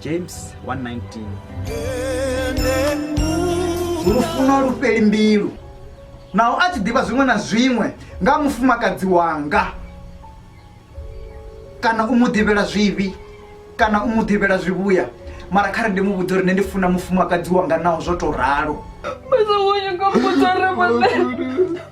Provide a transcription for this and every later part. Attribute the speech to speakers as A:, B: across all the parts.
A: james
B: 1:19 lufuno lu fheli mbilu naho a tshi ḓivha zwiṅwe na zwiṅwe nga mufumakadzi wanga kana u mu ḓivhela zwivhi kana u mu ḓivhela zwivhuya mara kha ri ndi mu vhudza uri nṋe ndi funa mufumakadzi wanga naho zwo tou ralo Mas eu olho
A: como tu arrebatei.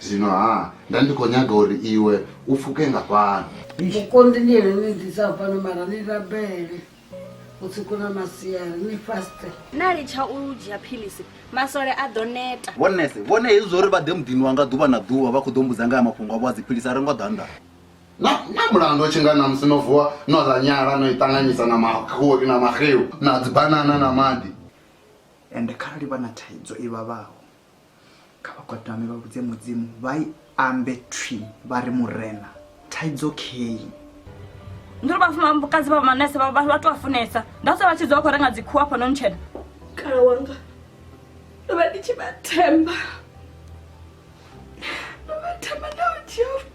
C: Zwino-ha, nda ndi khou nyaga uri iwe u pfuke nga fhano. Mukonḓi ndi ene o
D: ni ḓisaho fhano, mara ni rabele vhusiku na masiari, ni faste. Na litsha u
A: dzhia philisi, masole a ḓo neta. Vho Nese, vhone hezwi zwa
E: uri vha ḓe muḓini wanga ḓuvha na ḓuvha vha khou ḓo mbudza nga ha mafhungo avho a dziphilisi a ri ngo ḓa nnḓa. Na, na
C: mulandu u tshi nga ṋamusi no vuwa no ḽa nyala no i ṱanganyisa na makhuri na maxeu na dzibanana na maḓi. Ende
B: kharali vha na thaidzo i vhavhaho. kha vha gwadame vha vhudze mudzimu vha i ambe thwi vha ri murena thaidzo key
A: ndiri vhafumakadzi vha manese vha to afunesa ndase vha tshi dza vha khou renga dzikhuwa afha no ntshena kala wanga ndo vha ndi tshi vha themba ndo vha themba nda u dzhia